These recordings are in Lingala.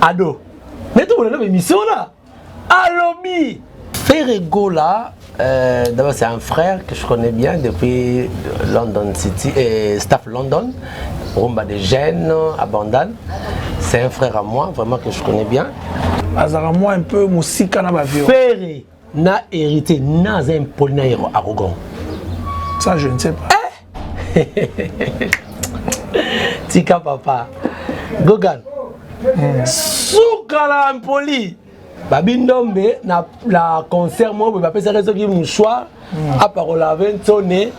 ado nde tomonana bemission na alobi Ferre Gola, euh, d'abord c'est un frère que je connais bien depuis London City, et staff London, Rumba de Gênes, à Bandal. C'est un frère à moi, vraiment que je connais bien. azalaka mwa un peu mosika na bavio Ferre Na héritier, na aza impoli na yero arrogant. Ça je ne sais pas. Eh! Tika papa. Gogan. Mm. Suka la impoli. Babi Ndombe na la concert moi boye bapesaki soki mouchoir mm. aparola 20 nsone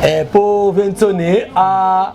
eh, po 20 nsone a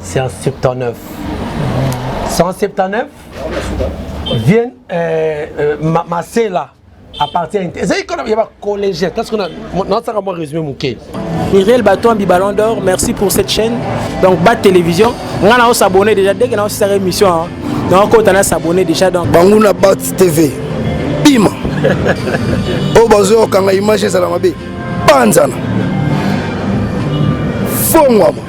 179 179 vienne euh, euh, ma, masela à partir ya ezali kona ya bacollégien parce que nasaka mwa résumé moke Iriel Batombi Ballon d'Or merci pour cette chaîne donc Bat Télévision nga na osabonne déjà dès que na osisaka émission hein, na okota na s'abonner déjà donc banguna Bat TV bima oyo bazoyokanga image ezala mabe panzana fongwama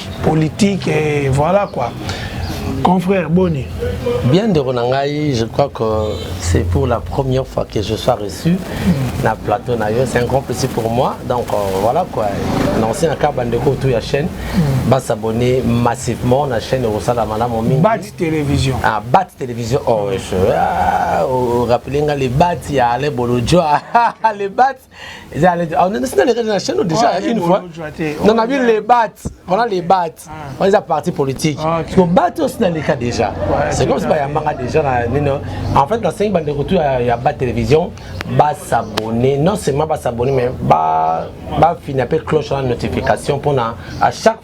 politique et voilà quoi confrère boni bien ndeko na ngai je crois que c'est pour la première fois que je sois reçu mm. na plateau na yo c'est un grand plaisir pour moi donc euh, voilà quoi annoncé na kaka bandeko autour ya chaîne mm. basabonne massivement na chaîne ekosala malamu mingi bat télévision ah, bat télévision oh, je, ah, oh, oh, rappele nga le bat ya ale bolodjoa le bat eza alete ah, nasi nalekaki na chaine déjà oh, une fois na nabi le bat wana le bat ah. wana eza parti politique ah, so bat osi naleka déjà c'est comme si bayambanga déjà na nino en fait nasengi bandeko tu ya bat télévision basabonne non seulement basabonne mais bafina mpe cloche wana notification mpona à chaque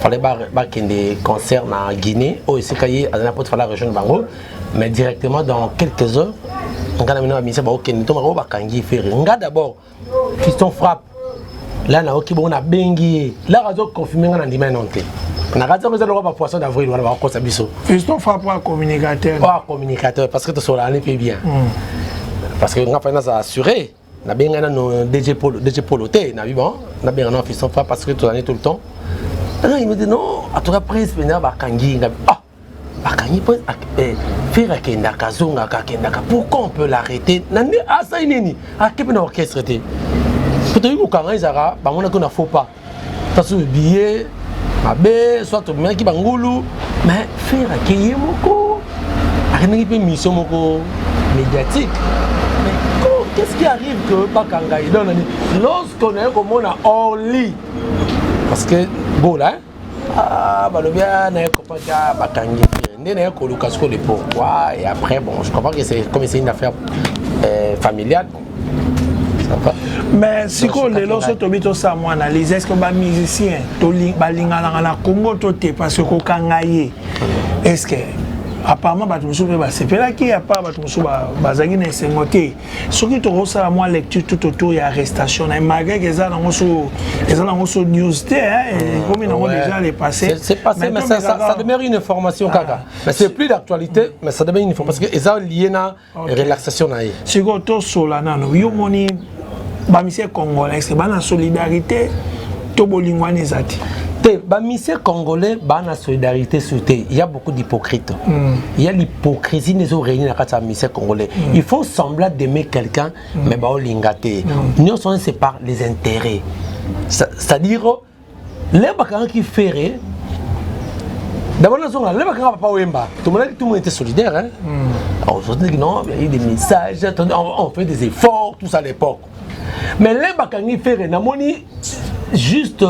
fallait bakende concert na guinée oyo esika ye azali na pote fallait rejoindre bango mais directement dans quelques heures ngai na bino bamisa baokende to bango bakangi fere ngai d'abord fiston frappe la nayoki bongo nabengi ye laka azoconfirme ngai na ndima eno te na kati yango eza lokola bapoisson d'avril wana bakokosa biso fiston frappe oa communicateur oa communicateur parce que tosolani mpe bien hmm. parce que ngai fai naza assuré nabenga nano euh, dg polo dg polo te na biban nabenga nano fiston fa parce que tozalani tout le temps alors il me dit non en tout cas prince pena bakangi nga ah bakangi prince ah, eh, fere akendaka azongaka akendaka pourquoi on peut l'arrêter na nde asali nini ake mpe na orchestre te mpo toyebi kokanga ezalaka bamonaki na faux pas Parce que billet, mabe, soit tomemaki bangulu, mais faire akeye moko, akendaki mpe mission moko médiatique. Mais qu'est-ce qui arrive que bakanga ye donc lorsqu'on aye komona orly parce que bola hein? ah, balobi ah, naye kopaki ah, bakangi nde naye koluka sikoyo le pourquoi et après bon je comprends que c'est comme c'est une affaire euh, familiale bon, mais sikoyo lelo so tobi tosala mwa analyse est ce que bamusicien balinganaka na congo to te parce que kokanga ye est ce que apparemment bato mosusu mpe basepelaki apart bato mosusu bazalaki na esengo te soki tokosala mwa lecture tout autour ya arrestation na ye malgré ke eza nango so eza nango so news te ekomi nango déjà le passé c'est passé mais ça demeure une information kaka ah. mais c'est plus d'actualité mais ça demeure une information parce que eza lié na okay. relaxation na ye sikoyo tosola nano yo moni bamisie congolais baa na solidarité to bolingo wana eza te te bamisie congolais baa na solidarité sur te ya beaucoup d'hypocrite mm. ya l'hypocrisie nde ezo réuni na kati ya misie congolais mm. il faut sembla d'aimer quelqu'un mm. mais baolinga te mm. nyonso wana c'est par les intérêts c'est-à-dire le bakangaki ferre d'abord nazonga le bakanga papa wemba tomonaki tout le monde était solidaire hein? mm. on se dit non il y a eu des messages on, on fait des efforts tout ça à l'époque mais le bakangi ferre namoni juste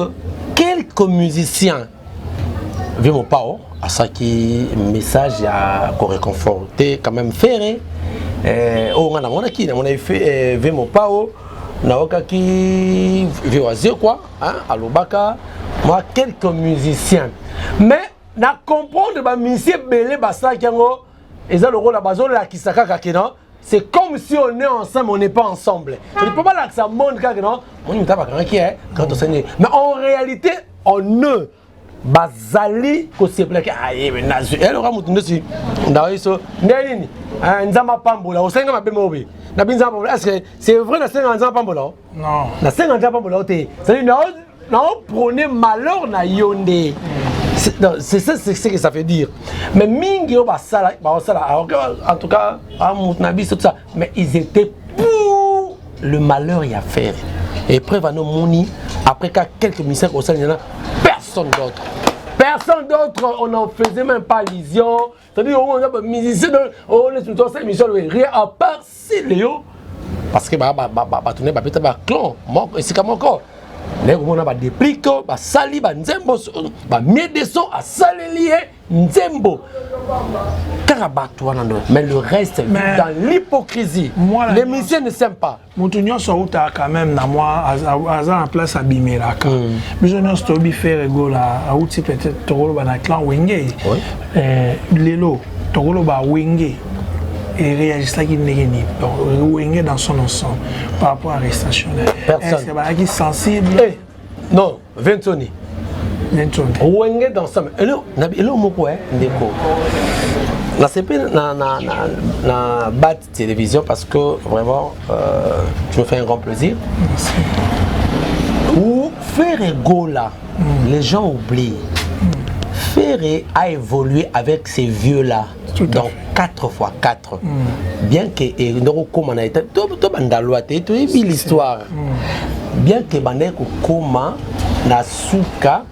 quelques musiciens vieux mopao asaki message ya koreconforte quand même ferre eh, oyo oh, nga namonaki namonaki eh, vieux mopao naokaki vieux wazekwa hein, alobaka mwa quelques musiciens mais na comprendre bamusicien ebele basalaki yango eza lokola bazolakisa kaka ke non c'est comme si on est ensemble on n'est pas ensemble il peut balakisa monde kaka non moni moto abakangaki quand osenge mais en réalité on ne bazali kosepelaki ayebe ah, nazwi eloka moto ndosi ndawa biso nde nini ah, nzambe apambola osenga mabe mobe na bi nzambe apambola estce c'est vrai nasenga nzambe apambola o nasenga nzambe apambola o te cetadi naoprone malheur na yo nde c'est ça c'est ce que ça veut dire mais mingi oyo basala baosala ah, en tout cas amoto na biso tout ça mais ils étaient pour le malheur ya ferre epreuve ano moni après ka quelques ministères kosalela na personne d'autre personne d'autre on en faisait même pas allusion c'est-à-dire on a musicien on est sur cette émission rien à part si Léo parce que bato ne babeta baclan esika moko naye komona badeplik basali banzembo bamie de son asaleli ye nzembo kaka bato wana ndo mais le reste mais dans l'hypocrisie les musiciens ne s'aiment pas moto nyonso autaka quand même na mwa aza na place abimelaka mm. biso nyonso toyebi faire egola auti peut-être tokoloba na clan wenge oui. eh, lelo tokoloba wenge ereagisaki ndenge nini wenge dans son ensemble par rapport à arrestation na ye ebalaki sensible hey. Eh, non vinconi wenge dansam elo moko eh, ndeko nasepeli na, na, na, na bat télévision parce que vraiment euh, tu me fais un grand plaisir Merci. ou ferre gola mm. les gens oublient mm. ferre a évolué avec ces vieux là dans 4 fois 4 mm. bien que ndoko koma na état to to bandalwa te to yebi l'histoire mm. bien que bandai ko koma na suka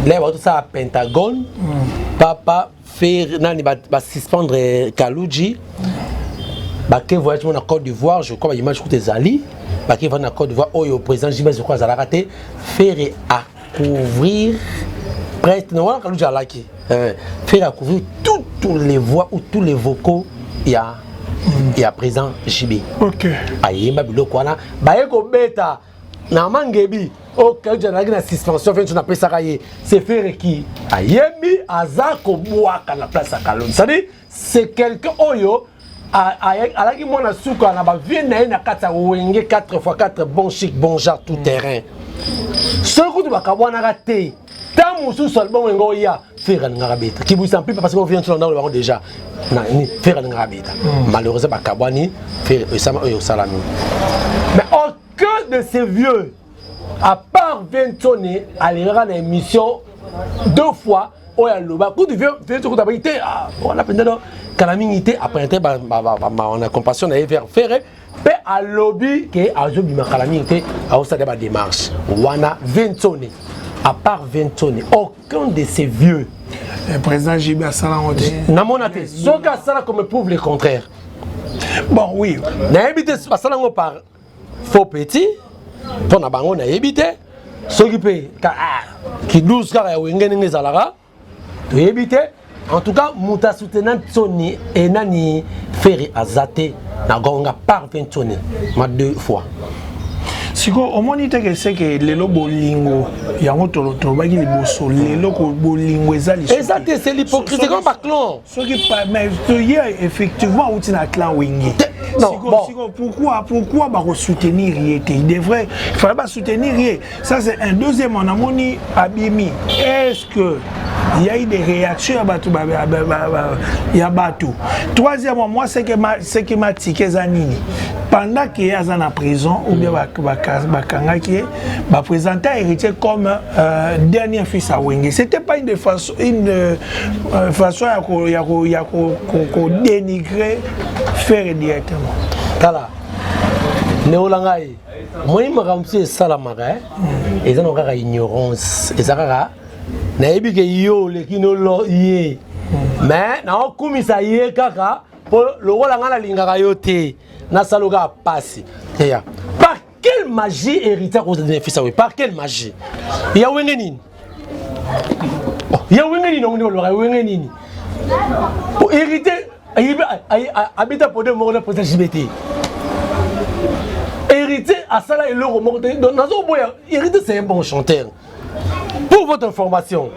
là ba to sa pentagone mm. papa faire nani ba, ba suspendre Kaluji mm. ba ke voyage na Côte d'Ivoire je crois ba image ko ezali ba ke va na Côte d'Ivoire oyo président Jimmy je crois azalaka te faire à couvrir presque na wana kaluja alaki eh, faire couvrir toutes les voix ou tous les vocaux ya ya président JB okay. ayemba biloko wana baye kobeta na mangebi oyo oh, kaluja alaki na suspension fenso napesaka ye sefere ki ayembi aza kobwaka na place ya kalonji cestadire c'est quelqu'un oyo alaki mwana suka na bavie na ye na kati ya wenge 4 x 4 bon chic bon genre tout mm. terrain soki kutu bakabwanaka te ntango mosusu album yango oya fere alingaka beta kibwisa mpipa parce que ovient ntina ndako bango déjà nani fere alingaka beta mm. malheureusement bakabwani fere oyo esalami mais aucun de ces vieux à part Vincone alingaka na émission deux fois oyo aloba kutu Vincone kutu abaki te ah, wana mpenza no kala mingi te apprente na compassion na ye vers ferre mpe alobi ke azobima kala mingi te aosala ba démarche wana Vincone à part Vincone aucun de ces vieux eh, président JB asala yango te namona te soki asala comme prouve le contraire bon oui nayebi te basala yango par faux petit mpo na bango nayebi te soki mpe ah, kidouze kaka ya wenge ndenge ezalaka toyebi te en tout cas moto asutena nsoni e nani feri aza te na gonga par mpe nsoni ma deux fois sikoyo omoni te ke seke lelo bolingo yango tolobaki liboso lelo bolingo eza lisusu eza te c'est l'hypocrisie comme baclan soki mais toye effectivement auti na clan wenge sikoyo pourquoi pourquoi bakosoutenir ye te il devrait fallait basoutenir ye ça c'est un deuxièmement namoni abimi est ce que il y a eu des réactions ya bato ya bato troisièmement moi ce qui m'a tike eza nini pendant ke aza na prison ou bien bakangaki ye bapresenta héritier comme euh, dernier fils ya wenge c'était pas une de façon une euh, euh façon ya ko ya ko ya ko ko dénigrer faire directement tala neola ngai omoni makambo mosusu esalamaka eh? mm. eza na kaka ignorance eza kaka nayebi ke yo oleki nolo ye mm. mais naokumisa ye kaka mpo lokola ngai nalingaka yo te nasala kaka mpasi eya Quelle magie héritier akoza na fils awe par quelle magie ya wenge nini oh, ya wenge nini ongo ndolora ya wenge nini po oh, héritier abeta pode moko na posa jibe te héritier asala eloko moko te donc nazoboya héritier c'est un bon chanteur Pour votre information,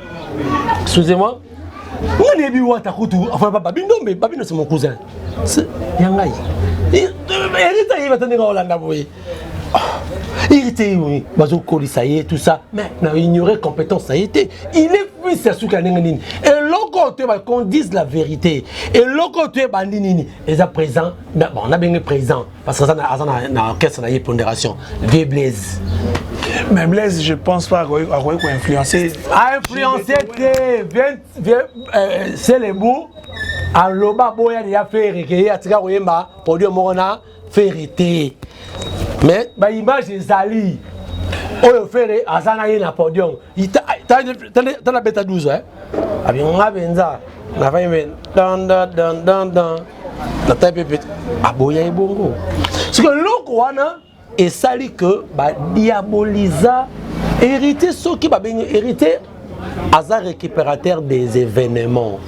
excusez-moi, nga nayebi wata kutu afana papa bindombe babino se mon cousin ya ngai erita ye bata ndenge olanda boye erita ye bazokolisa ye tout ça mais na ignorer compétence na ye te il est fils ya suki ya ndenge nini eloko oyo toyeba qu'on dise la vérité eloko oyo toyebandi nini eza présent bon nabenge présent Parce que ça, ça na, na orchestre na ponderation. Vieux Blaise. Mais Blaise, je pense pas qu'on va influencer. A influencer, c'est les bouts. En loba boya ya ferre ke ya tika koyemba produit moko na ferre te. Mais ba image ezali. Oyo ferre azana ye na podium. Tala beta 12 hein. abi nga mpenza nafai mpe dandandandandan natai mpe pete aboya ye bongo soki eloko wana esali ke badiaboliza héritier soki babengi héritier aza récupérateur des événements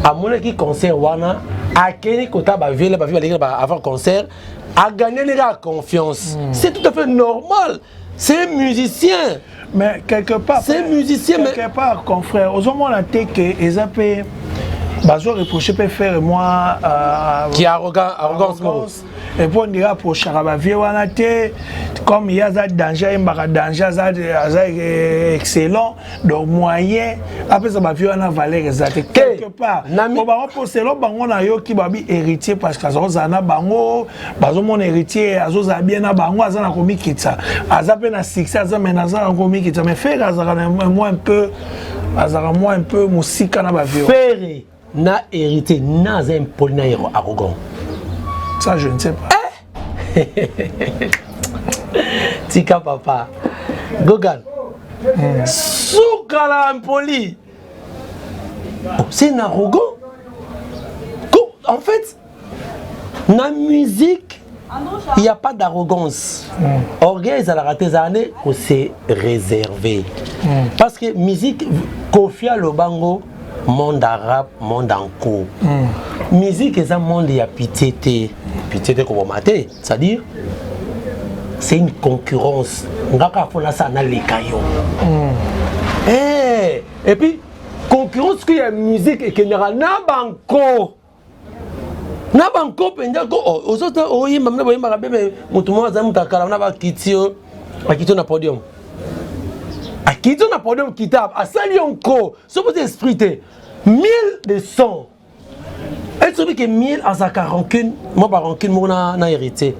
amonaki concert wana akei kota baviele bavi baleki avant concert aganeli kaka confiance mm. c'est tout à fait normal c'est musicien mais quelque part c'est musicien quelque mais... part confrère ozomona te ke eza mpe bazo reproche mpe faire moi euh, qui arrogant arrogance moko et mpo ndenge aprochaka bavie wana te comme ye aza danger ayembaka danger aza excellent donc moyen apesa bavie wana valeur eza te quelque part po bango mpo selo bango nayoki babi héritier parce que aza kozala na bango bazomona héritier azozala bien na bango aza na komikitisa aza mpe na succès aza mai naza na komikitisa mais fere azalaka na moi un peu azalaka moi un peu mosika na bavie Na héritier, na aza impoli na yero arrogant. Ça je ne sais pas. Eh? Tika papa. Gogan. Mm. Suka la impoli. Oh, c'est un arrogant. En fait, na musique il n'y a pas d'arrogance mm. orgueil ezalaka te ezala nde kose réserve mm. parce que musique kofia lobango monde arabe monde en cours mm. musique eza monde ya pitié te pitié te koboma te c'est à dire c'est une concurrence nga kaka mpo nasala naleka yo mm. hey, eh, et puis concurrence que ya musique ekendaka na banko na banko mpenza ozota oyemba mna boyembaka bebe motu moko azali moto akala na bakiti yo akiti yo na podium akiti yo na podium kitab asali yo nko soki oza esprit te mille de cent esobi ke mille azalaka rancune mwa barancune moko na héritier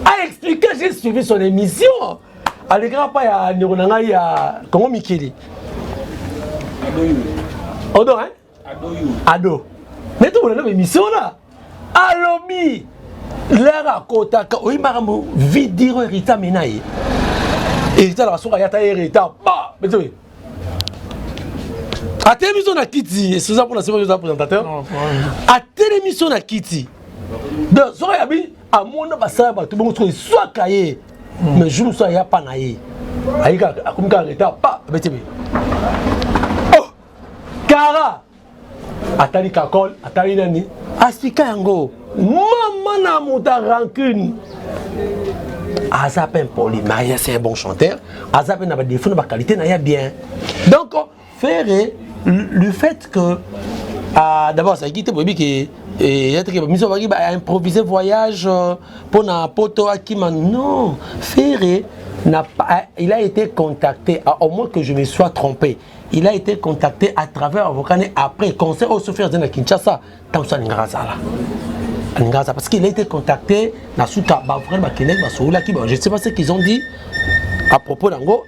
aexplike j'ai suivi son émission alekaka mpa ya ndeko na ngai ya kongo mikili odo hein ado nde tomonana ba émission wana alobi lere akotaka oyebi makambo vie diro herita mena ye herita alaka soki ayata ye herita ba betoye atelemi so na kiti esoza mpona sema oza présentateur atelemi so na kiti donc soki ayabi amona basala bato bongo soki eswaka ye hmm. mais jour mosusu aya pa na ye ayika akomi kaka reta pa abeti boye kara atali kakol atali nani asika yango mama na moto a rancune aza mpe impoli maria c'est un bon chanteur aza mpe na badefaut na baqualité na ya bien donc ferre le fait que ah, d'abord azalaki te boyebi ke eh, yateke bamiso baki baimprovise voyage euh, mpo na poto akima non ferre n'a pas, il a été contacté, à, au moins que je me sois trompé. il a été contacté à travers avocat ne après conseil oyo sofi azali na kinshasa ntango so alingaka azala alingaka azala parce qu'il a été contacté na suka bavokani bakendaki basololaki je sais pas ce qu'ils ont dit à propos nango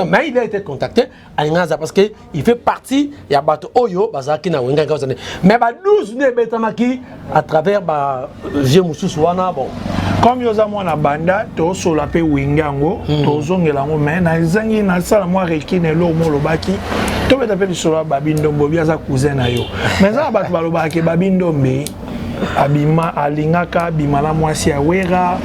mais il a été contacté alingaka azala parce que il fait partie ya bato oyo bazalaki na wengaki ozane mais ba 12 nde ebetamaki à travers ba vieux mususu wana bon comme yo oza mwana banda tosola mpe wenge yango hmm. tozongela yango mai nazangi nasala mwa rekine eloo mo olobaki tobeta mpe lisolo ya babi ndombo bi aza cousin na yo mai eza na bato balobaka ke babi ndombe abima alingaka abima na mwasi ya wera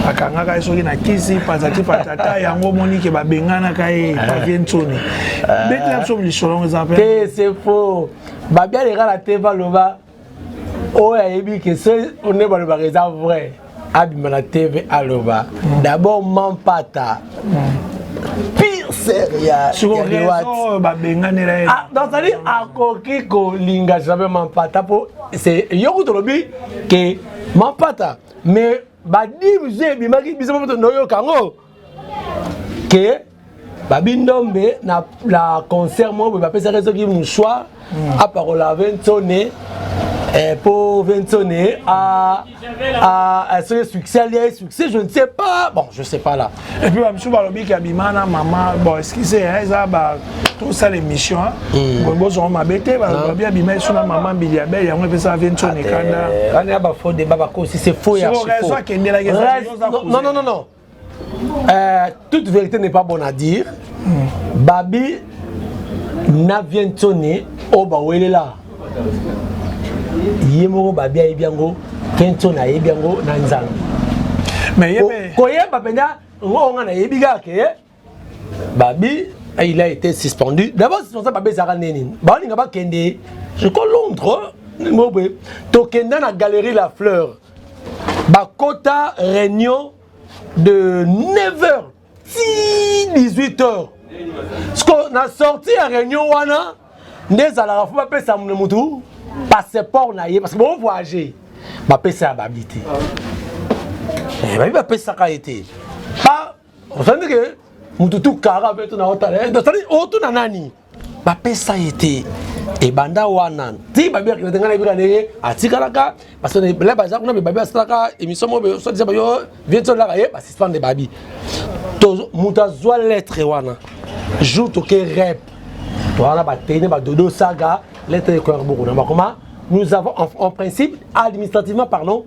akangaka ye soki na kisi patati patata yango omoni ke babenganaka ye eh. pavie nsoni eh. betela biso lisolo yango eza mpe te c'est faux babialekala te baloba oyo ayebi ke so nde balobaka eza vrai abima na tv aloba mm. d'abord mampata mm. pire seriaoyo babenganela ye ah, donc cetadi akoki kolinga jamais mampata mpo yo kutu olobi ke mampata mais badivision ebimaki biso moto noyoka yango ke babi ndombe na la concert moko boye bapesaka soki mouchoir mm. apakola vensone eh, po vensone soki succès alia ye succès je ne sais pas bon je sais pas là et puis bamisu balobi ke abima na mama bon excuse eza ba tosala émission hmm. bozongo mabe te balobi abima esu na mama mbili ya bele yango epesaka vensone kanda wana ya bafaux débat bakosi c'est faux ya raison akendelaki non non non Euh, toute vérité n'est pas bonne à dire. Mm. Babi na vientoni oyo bawelela ye moko babi ayebi yango vientoni ayebi yango na nzambe koyeba mpenza ngo nga nayebi kaka ke babi ah, il a été suspendu d'abord suspension babi ezalaka ndenge nini baolinga bakende je crois londres ndenge boye tokenda na galerie la fleur bakota réunion de 9h ti 18h siko na sorti ya réunion wana nde ezalaka fo bapesa motu passeport na ye parce que bo voyage bapesa ya babi te eh, babi bapesaka ye te osandi ke mutu tu kara be tuna otala eh, osandi otuna nani bapesa ye te ebanda wana ti babi akenda te ngai nayebika ndenge atikalaka parce que la baza kuna babi asalaka émission moko sodisa bayo vie tolaka ye basuspendre babi moto azwa lettre wana jour toke rep towana batene badodo saga lettre ekoyaka bokona bakoma nous avons en, en principe administrativement parlons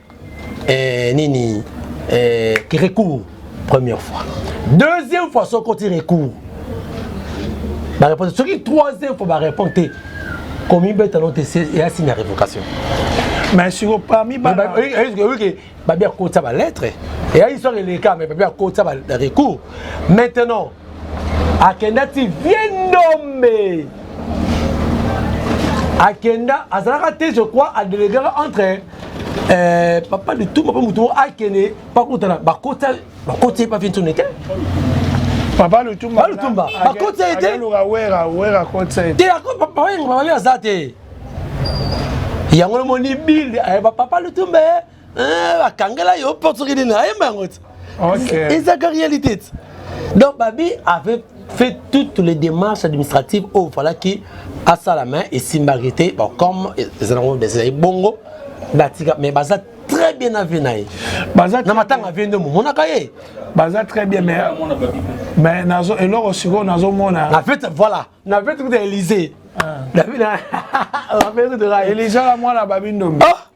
eh, nini eh, recours première fois deuxième fois soki oti recours bareponse soki troisième fois barépondre te komibeta no te eya signe ya révocation mais siko parmi baoyike babi akotisa balettre eya histoire eleka mais babi akotisa barecours maintenant akenda ti vie ndombe akenda azalaka te je crois adelegaka entre euh, papa lituma mpe motu akende pakutana bakota bakoti ye pa vie ntone te papa lutumba lutumba bakoti ye te te papa yengo papa aza te yango nomoni bile ayeba papa lutumba Eh, bakangela yo porte soki nini ayemba yango ti ezaka réalité ti donc babi avait fait toutes les démarches administratives oyo falaki asala mai esimbaki te bon comme ezanango ezali bongo batika mais baza très bien avi na ye na matanga vie nde momonaka ye baza très bien mais mais nazo eloko sikoyo nazomona na fete voilà na fete kuta élysée ah. na fete de la élysée la mwana babindombe ah!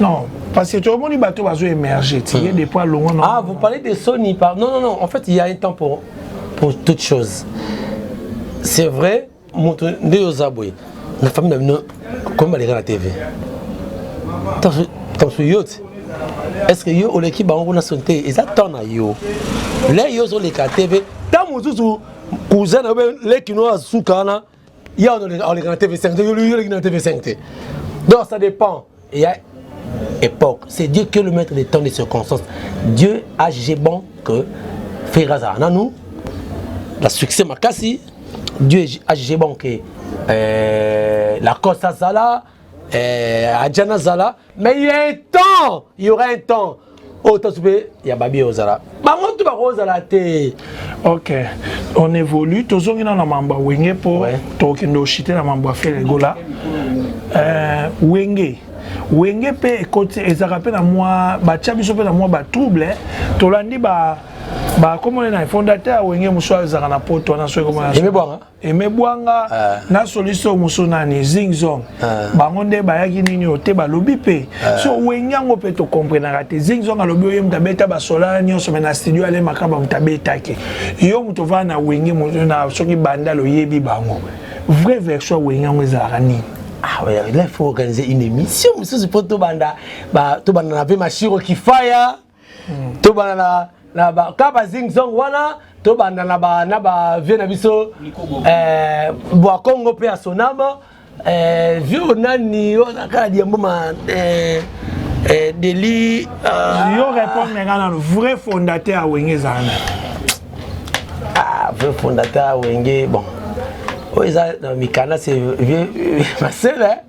Non, parce que tu as moni bateau bazo émerger, tu es depuis longtemps. Non. Ah, vous parlez de Sony par Non non non, en fait, il y a un temps pour pour toute chose. C'est vrai, mon nde ozabwe. La famille na bino comme baleka na TV. Tansu yote est-ce que yo oleki bango kuna soni te eza temps na yo le yo ozoleka tv ntango mosusu cousin na yo leki no azuka wana ya oleka na tv5 te yoleki na tv5 te donc ça dépend il y a époque c'est dieu qui est le maître des temps des circonstances dieu a jugé bon que frère azala nanu la succès makasi dieu a jugé bon que euh, la coste azala eh, aja nazala mais il y a un temps il y aura un temps oyo tasu mpe ya babi ozala bango tu bakozala te ok on évolue tozongi na na mambo ya wenge mpo ouais. tokokende oshite na mambo ya felegola euh, wenge wenge mpe ekoti ezalaka mpe na mwa batya biso mpe na mwa batrouble eh. tolandi ba bakomona na fondateur wenge mosusu azalaka na poto wana soki komona Aimé Bwanga ah. na soliste mosusu nani Zing Zong ah. bango nde bayaki nini oyo te balobi mpe ah. so wenge yango mpe tokomprenaka te Zing Zong alobi oyo moto abeta basola nyonso me na studio ale makaba moto abetaki yo moto ovaa na wenge na soki bandal oyebi bango vrai version ya wenge yango ezalaka nini Ah ouais, là, il faut organiser une émission. Monsieur Zupo Tobanda, bah, Tobanda, on avait ma chiro qui fire. to bana na na ba ka ba zing zong wana to banda na ba na ba vieux na biso eh bwa Congo pe asonama eh vieux nani wana kala diambo ma eh eh deli euh, yo répondre nga na vrai fondateur wenge zana ah vrai fondateur wenge bon oyo eza na mikanda se vieux ma sœur hein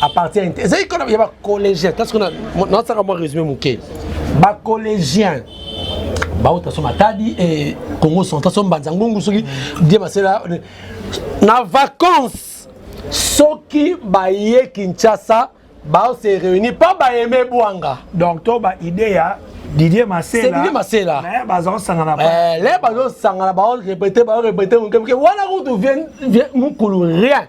apartient ya ezali kona ya bacollégien kasi kuna nasaka mwa résumé moke bacollégien bauta so matadi e congo central so mbanza ngungu soki die masela na vacance soki baye kinshasa baose réunir mpo baeme bwanga donc to baide ya Didier Masela. Didier Masela. Mais bazo sangana pas. Eh, les bazo sangana ba répéter, ba répéter, on comme que voilà où tu viens, viens, mon rien.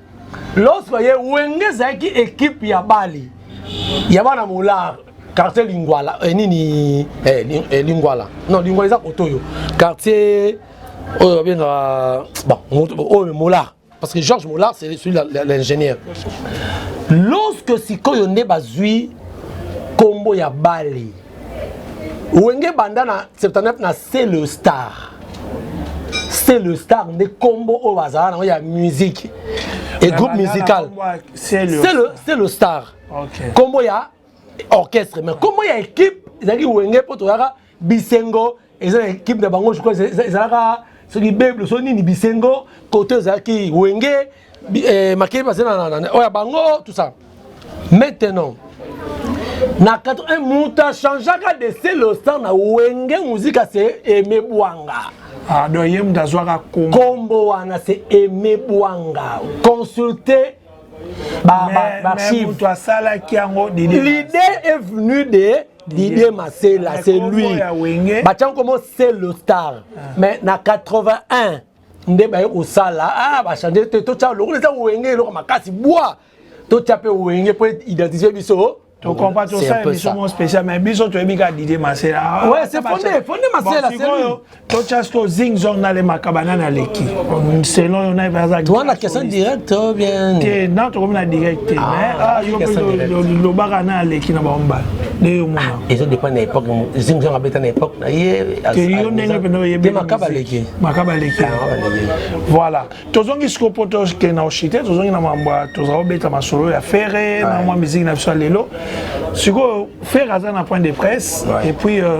lorsque ye wenge ezalaki ekipe ya bale ya bana molar quartier lingwala eh, nini eh, ling, eh, lingwala non lingwala eza koto oyo quartier oyo babengaka bon, oyo molar parce que georges molar c'est celui l'ingénieur lorsque sikoyo nde bazwi nkombo ya bale wenge banda na 79 na c'est le star c'est le star nde kombo oyo bazala nango ya musique et groupe musical c'est le star kombo ya orchestre mais kombo ya équipe ezalaki wenge mpo toyaka bisengo eza na ekipe na bango je crois ezalaka soki beble so nini bisengo kote ezalaki wenge eh, makeli baza na oyo ya bango tout ça maintenant na 81 moto achangeaka de celostar na wenge muzika se eme bwanga ah, donc ye moto azwaka kombo wana se eme bwanga consulte baarchive asalaki yango l'idée est venue de Didier Masela, c'est lui. Batian comment c'est le star. Ah. Mais na 81, nde baye kosala ah bachange te totya lokola eza wenge eloko makasi bwa totya mpe wenge mpo identifie biso tokompa tosala biso mo spécial mais biso toyebi kaka didie masela ah, ouais c'est fondé fondé masela c'est lui totya sikoyo zing zong nalemaka banani aleki selon yo naye baza wana question direct ou bien te na tokomi na direct te ah, mais ah, yo lobaka na aleki na bango mbala nde yo mona ah, ezo dépend na époque zing zong abeta na époque na ye te yo ndenge mpenza oyebi makaba aleki makaba aleki voilà tozongi sikoyo mpo tokende na oshite tozongi na mambo tozala kobeta masolo ya fere na mwa miziki na biso ya lelo sikoyo fere aza na point de presse et puis euh,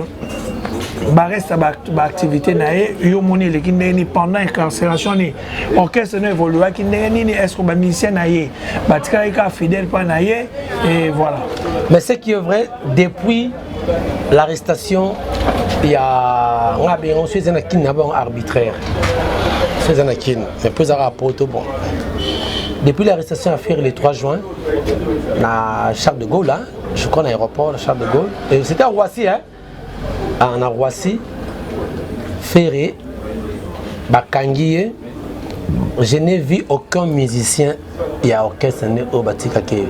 bareste baactivité na ye yo omoni eleki ndenge nini pendant incarcération nini orchestre no évoluaki ndenge nini est ce que bamusicien na ye batikalaki kaka fidèle mpa na ye et voilà mais ce qui est vrai depuis l'arrestation ya nga be yango so eza na kini na bango arbitraire so eza na kini mais mpo ezaka poto bon depuis l'arrestation ya ferre le 3 juin na charles de gaulle hein, je crois na aéroport charles de gaulle et c'était à roissy hein? ah, na roissy ferre bakangi ye je n'ai vu aucun musicien ya orchestre nde oyo batikaka ye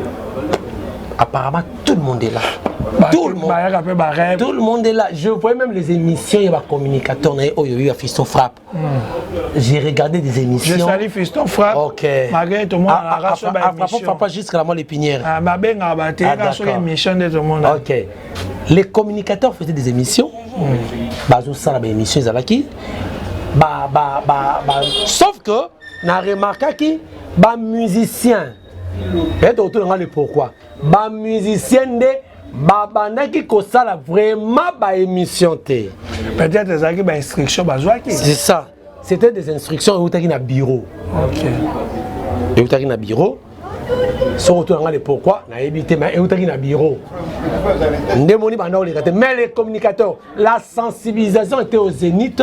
apparemment tout le monde est là tout le monde bayaka mpe barêve tout le monde est là je voyais même les émissions ya bacommunicateur na ye oyo oyo ya fiston frappe hmm. j'ai regardé des émissions je sali fiston frappe ok malgré tout le monde alaka so baémission papa jusqu'à la moelle épinière ah, babengaka bateyaka so émission nde tout le monde ok les communicateurs faisaient des émissions hmm. bazosala baémission ezalaki ba, ba, ba, ba, sauf que na remarkaki ba musicien eye tokotuna ngai le pourquoi ba musicien nde babandaki kosala vraiment ba émission te peut-être ezalaki ba instruction bazwaki c'est ça c'était des instructions eutaki na bureau okay. eutaki na bureau soki otuna ngai le pourquoi nayebi te mais eutaki na bureau nde moni banda oleka te mais les communicateurs la sensibilisation était au zénith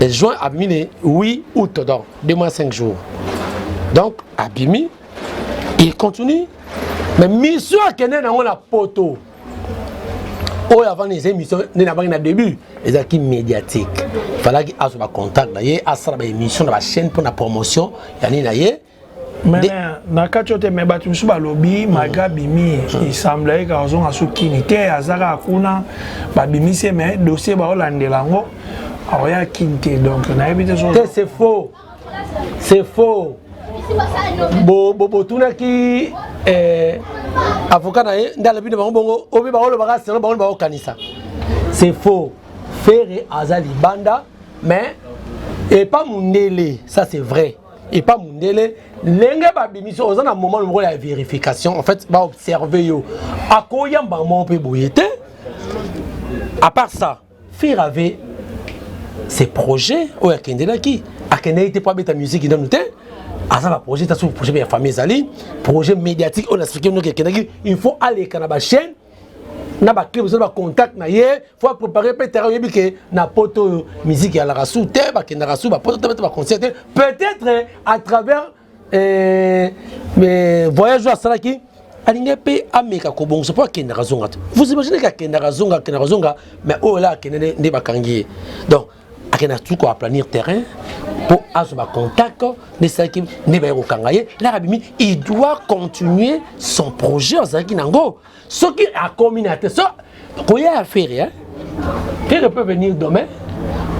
Et juin à mine 8 août, donc 2 mois 5 jours. Donc, Abimi, il continue. Mais mission à Kenya, on a poteau. oyo avant les émissions nde na bangi na début ezalaki médiatique falaki azwa bacontact na ye asala baémission na bachaîne mpo na promotion ya nini na ye mais na kati ote mais bato mosusu balobi malgre mm. abimi mm. esemblaki kaka ozonga so kini te aza kaka kuna babimisi ye mais dossier baolandela yango aoya kini te donc nayebi te te c'est faux c'est faux botunaki bo, bo, eh, avocat na ye nde alobi na bango bongo obi baolobaka selo bango baokanisa c'est faux ferre aza libanda mais epa mundele ça c'est vrai epa mundele ndenge babimisi oza na moment moko ya verification en fait baobserve yo akoyamba moko mpe boye te à part ça fir avait ses projets oyo akendelaki akendaki te mpo abeta musiki nanu te aza na projet ta soki projet ya famille ezali projet médiatique oyo na explike noki akendaki il faut aleka na bachaîne na baclub ozali bacontact na ye fo aprépare mpe terrain oyebi ke na poto oyo miziki yalaka su te bakendaka su bapoto te bete baconcert te peut-être à travers euh, euh, voyage oyo asalaki alingi mpe ameka kobongisa mpo akendaka zonga te vous imaginez ke akendaka zonga akendaka zonga mais oyo la akende nde bakangi ye donc akenda tu ko aplanir terrain mpo azwa bacontact nde esalaki nde baye kokanga ye laka abimi il doit continuer son projet azalaki nango soki akomi na te so koya ya fere hein? fere peut venir demain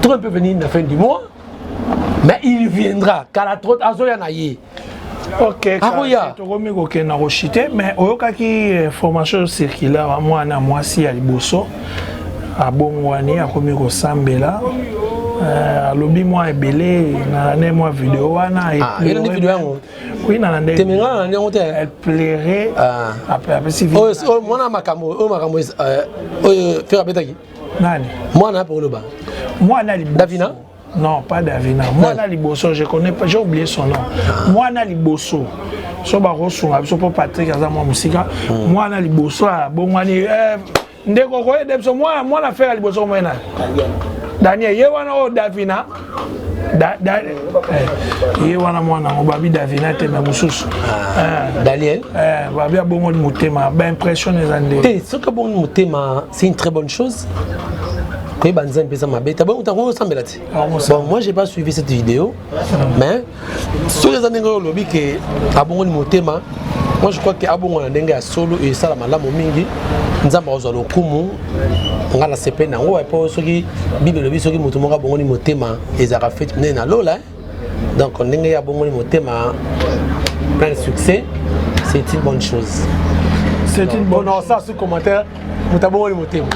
tron peut venir na fin du mois mais il viendra kala trop azoya na ye ok akoya tokomi kokende na koshite mais oyokaki eh, formation circulaire ya mwana mwasi ya liboso abongwani akomi kosambela eh, alobi mwa ebele nalande mwa video wana ah, elandi video yango oui nalandetemengana nalandi yango te elle plairait ah. apesi oyo mwana makambo oyo makambo eh, oyo fere abetaki nani mwana ape koloba mwana liboso davina Non, pas Davina. Moi, là, Liboso, je connais pas, j'ai oublié son nom. Moi, là, Liboso. So ba kosunga biso po Patrick aza mwa musika. Hmm. Moi, là, Liboso, ah, bon, moi, eh, ndeko ko aider biso. Moi, moi, na faire Liboso, moi, na. Daniel, ye wana o oh, Davina. Da, da, eh, ye wana mwana ngo babi davina te me mosusu ah, eh, daniel eh, babi abongoli motema baimpression eza nde te soki abongoli motema c'est une très bonne chose koyeba nzambe mpeza mabe te bongo ntango osambela te ah, bon moi j'ai pas suivi cette vidéo mais soki eza ndenge oyo olobi ke abongoli motema moi je crois ke abongola ndenge ya solo esala malamu mingi nzambe akozwa lokumu ngai nasepeli na yango epo soki bible elobi soki moto moko abongoli motema ezalaka feti monene na lola eh? donc ndenge ye abongoli motema plein de succès c'est une bonne chose c'est une bonne chose. sous commentaire moto abongoli motema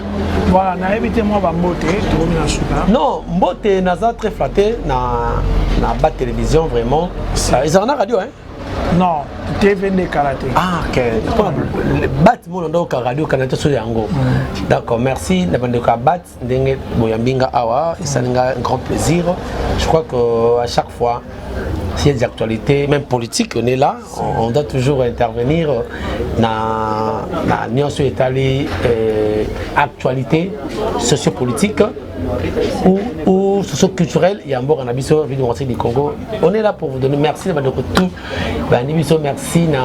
voilà nayebi te mwa bambote tokomi na suka non mbote naza très flatte na na ba télévision vraiment ezalaka na radio hein non tv nde kala te ah, bat mona ndoka radio kana te so yango mm. d'accord merci na bandeko ya bat ndenge boyambi nga awa esali nga grand plaisir je crois que à chaque fois s'il y a des actualités même politiques on est là on, on doit toujours intervenir na na nyonso etali euh, actualité sociopolitique ou, ou socio-culturelle ya mboka na biso ville du congo on est là pour vous donner merci na bandeko tout bandi biso merci na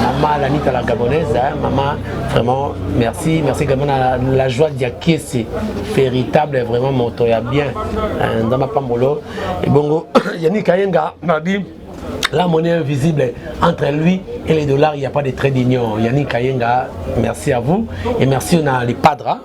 mama lanita la gabonaise hein, mama vraiment merci merci également na la joie diakese véritable vraiment moto ya bien hein, nzambe apambolo ebongo yannick ayenga nabi la monnaie invisible entre lui et les dollars il n'y a pas de trait d'union yannick ayenga merci à vous et merci na les padres hein.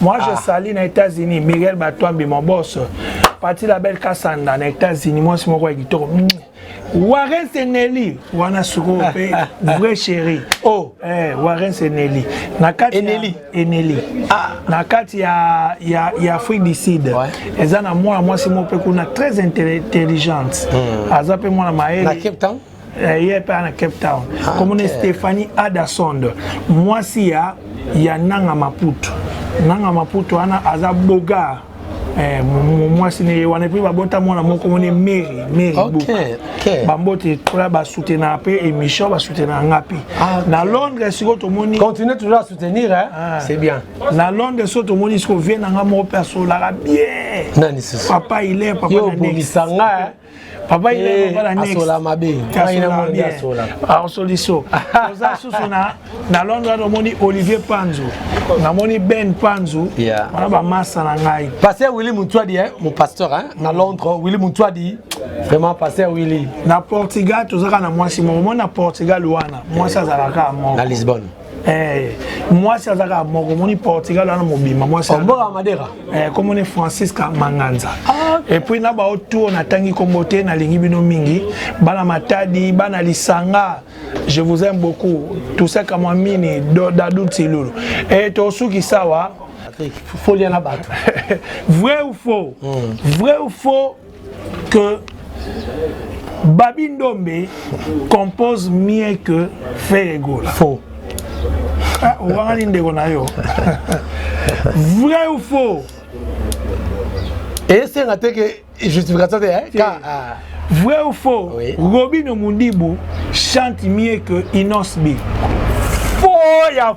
Moi, ah. je salue na États-Unis Miguel Batouambi, mon boss. Parti la belle Kassanda na États-Unis, moi, c'est mon roi Guitoro. Mm. Warren Seneli, wana suko pe vrai chéri. Oh, eh Warren Seneli. Na kati Eneli, Eneli. Ah, na kati ya ya ya Afrique du Sud. Ouais. Eza na moi, moi c'est mon pe kuna très intelligente. Mm. Aza pe moi na maele. Na Cape Town. eh, ye mpe na cape town ah, komona stephanie adasond mwasi ya ya nanga maputu nanga maputu wana aza bogar Eh, mwasi na ye wana epuis babota mwana moko moni mary mary bambote tola basoutenaka mpe émission basoutenaka nga mpe ah, na londres sikoyo tomoni continue toujours à soutenir ah. c'est bien na londres sikoyo tomoni sikoyo vie na nga moko mpe asolaka bien papa ile papa obomisa nga papa il est papa la next asola mabe asola mabe asola osoliso oza susu na na Londres ado moni Olivier Panzo na moni Ben Panzo wana ba massa na ngai pasteur Willy Mutuadi hein mon pasteur hein na Londres Willy Mutuadi vraiment pasteur Willy na Portugal tozaka na mwasi moko mona Portugal wana mwasi azalaka moko na Lisbonne Eh, mwasi aza kaka moko omoni portugal wana mobimba mwasi mboka madera eh, kombo ne francisca manganza ah, okay. epuis na bao tour natangi kombo te nalingi bino mingi bana matadi bana lisanga je vous aime beaucoup toussaint kamwamini dadou tilulu e eh, tosuki sawa folia na bato vrai ou faux mm. vrai ou faux que Babi Ndombe compose mieux que Ferre Gola. Faux. Ah, owangani ndeko na yo. Vrai ou faux? esenga te ke justification te eh? ka ah. vrai ou faux oui. robino mundibu chante mieux que inosbi faux ya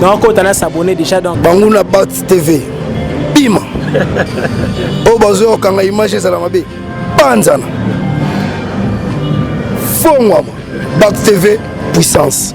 non kota na s'abonner déjà donc banguna bat tv bima oyo bazoya kokanga image ezala mabe banzana fongwama bat tv puissance